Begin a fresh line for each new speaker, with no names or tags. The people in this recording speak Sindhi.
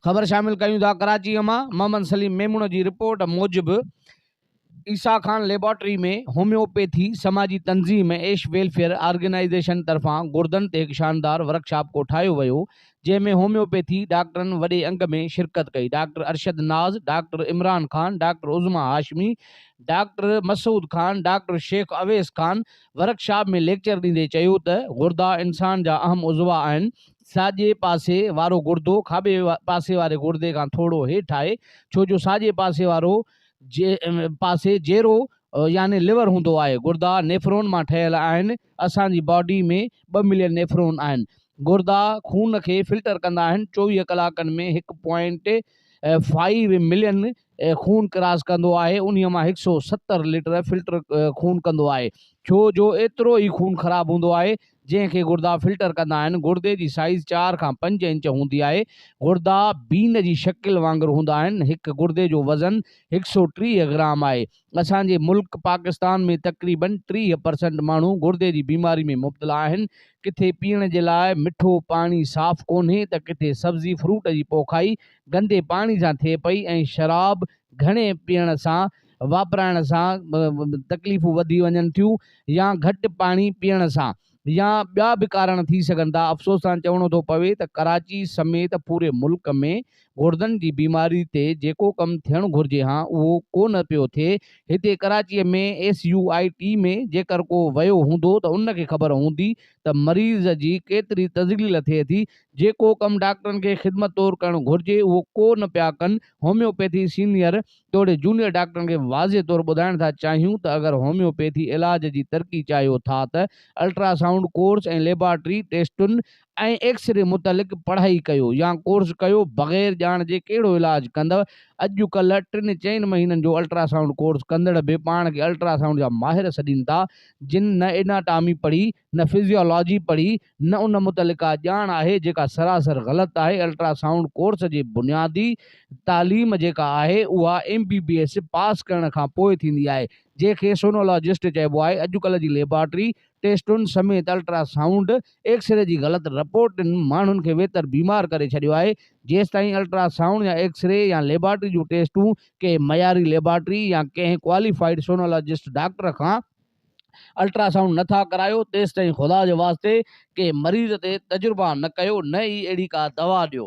خبر شامل ڪريون ٿا ڪراچي مان محمد سليم ميمڻ جي رپورٽ موجب عيسا خان ليبارٽري ۾ هوميوپيٿي سماجي تنظيم ايش ويلفيئر آرگنائيزيشن طرفان گردن تي هڪ شاندار ورڪشاپ ڪوٺايو ويو جنهن ۾ هوميوپيٿي ڊاڪٽرن وڏي انگ ۾ شرڪت ڪئي، doctor Arshad Naz, doctor Imran Khan, doctor Uzma Hashmi, doctor Masood Khan, doctor Sheikh Owais Khan workshop ۾ lecture ڏيندي چيو ته گردا انسان جا اهم عضوا آهن، ساڄي پاسي وارو گردو کاٻي پاسي واري گردي کان ٿورو هيٺ آهي ڇو جو ساڄي پاسي وارو پاسي جيرو يعني لور هوندو آهي، گردا نيفرون مان ٺهيل آهن، اسان جي باڊي ۾ ٻه ملين نيفرون آهن. گردا خون کي فلٽر ڪندا آهن. چوويهه ڪلاڪن ۾ هڪ پوائنٽ فائيو ملين خون ڪراس ڪندو آهي. انهيء مان هڪ سؤ ستر لٽر فلٽر خون ڪندو آهي. ڇو جو ايترو ئي خون خراب هوندو آهي، جنهن کي گردا فلٽر ڪندا آهن. گردي جي سائيز چار کان پنج انچ هوندي آهي. گردا بين جي شڪل وانگر هوندا آهن. هڪ گردي جو وزن هڪ سؤ ٽيهه گرام آهي. اسان جي ملڪ پاڪستان ۾ تقريبن ٽيهه پرسنٽ ماڻهو گردي جي بيماري ۾ مبتلا آهن، ڪٿي پيئڻ جي لاء مٺو پاڻي صاف ڪونهي ته ڪٿي سبزي فروٽ جي پوکائي گندي پاڻي سان ٿئي پئي ۽ شراب گهڻي پيئڻ سان واپرائڻ سان تڪليفون وڌي وڃن ٿيون يا گهٽ پاڻي پيئڻ سان يا ٻيا به ڪارڻ ٿي سگهن ٿا، افسوس سان چوڻو ٿو پوي ته ڪراچي سميت پوري ملڪ ۾ گڙدن جي بيماري تي جيڪو ڪم ٿيڻ گهرجي ها اهو ڪو نه پيو ٿئي، هتي Karachi ۾ S U I T ۾ جيڪر ڪو ويو هوندو ته ان کي خبر هوندي ته مريض جي ڪيتري تذليل ٿئي ٿي، جيڪو ڪم ڊاڪٽرن کي خدمت طور ڪرڻ گهرجي اهو ڪو نه پيا ڪن، هوميوپيٿي سينيئر توڙي جونيئر ڊاڪٽرن کي واضح طور ٻڌائڻ ٿا چاهيون ته اگر هوميوپيٿي علاج جي ترقي چاهيو ٿا ته الٽرا سائونڊ ڪورس ۽ ليبارٽري ٽيسٽن ۽ ايڪس ري متعلق پڙهائي ڪيو يا ڪورس ڪيو بغير ڄاڻ جي ڪهڙو علاج ڪندؤ اڄ ڪلهه ٽن چئن مهينن جو الٽرا سائونڊ ڪورس ڪندڙ به پاڻ کي الٽرا سائونڊ جا ماهر سڏين ٿا جن نه ايناٽامي پڙهي نه فزيالاجي پڙهي نه ان متعلق ڪا ڄاڻ آهي جيڪا سراسر غلط آهي الٽرا سائونڊ ڪورس جي بنيادي تعليم جيڪا آهي اها M B B S pass ڪرڻ کان پوء ٿيندي آهي جنهن کي سونولاجسٽ چئبو آهي اڄڪلهه جي ليبارٽري ٽيسٽن سميت الٽرا سائونڊ ايڪسري جي غلط رپورٽن ماڻهن کي ويتر بيمار ڪري ڇڏيو آهي جيستائين الٽرا سائونڊ يا ايڪسري يا ليبارٽري جون ٽيسٽون ڪنهن معياري ليبارٽري يا ڪنهن ڪواليفائيڊ سونولاجسٽ ڊاڪٽر کان الٽرا سائونڊ نه ٿا ڪرايو تيستائين خدا جي واسطي ڪنهن مريض تي تجربا نه ڪيو نه ئي اهڙي ڪا دوا ڏيو.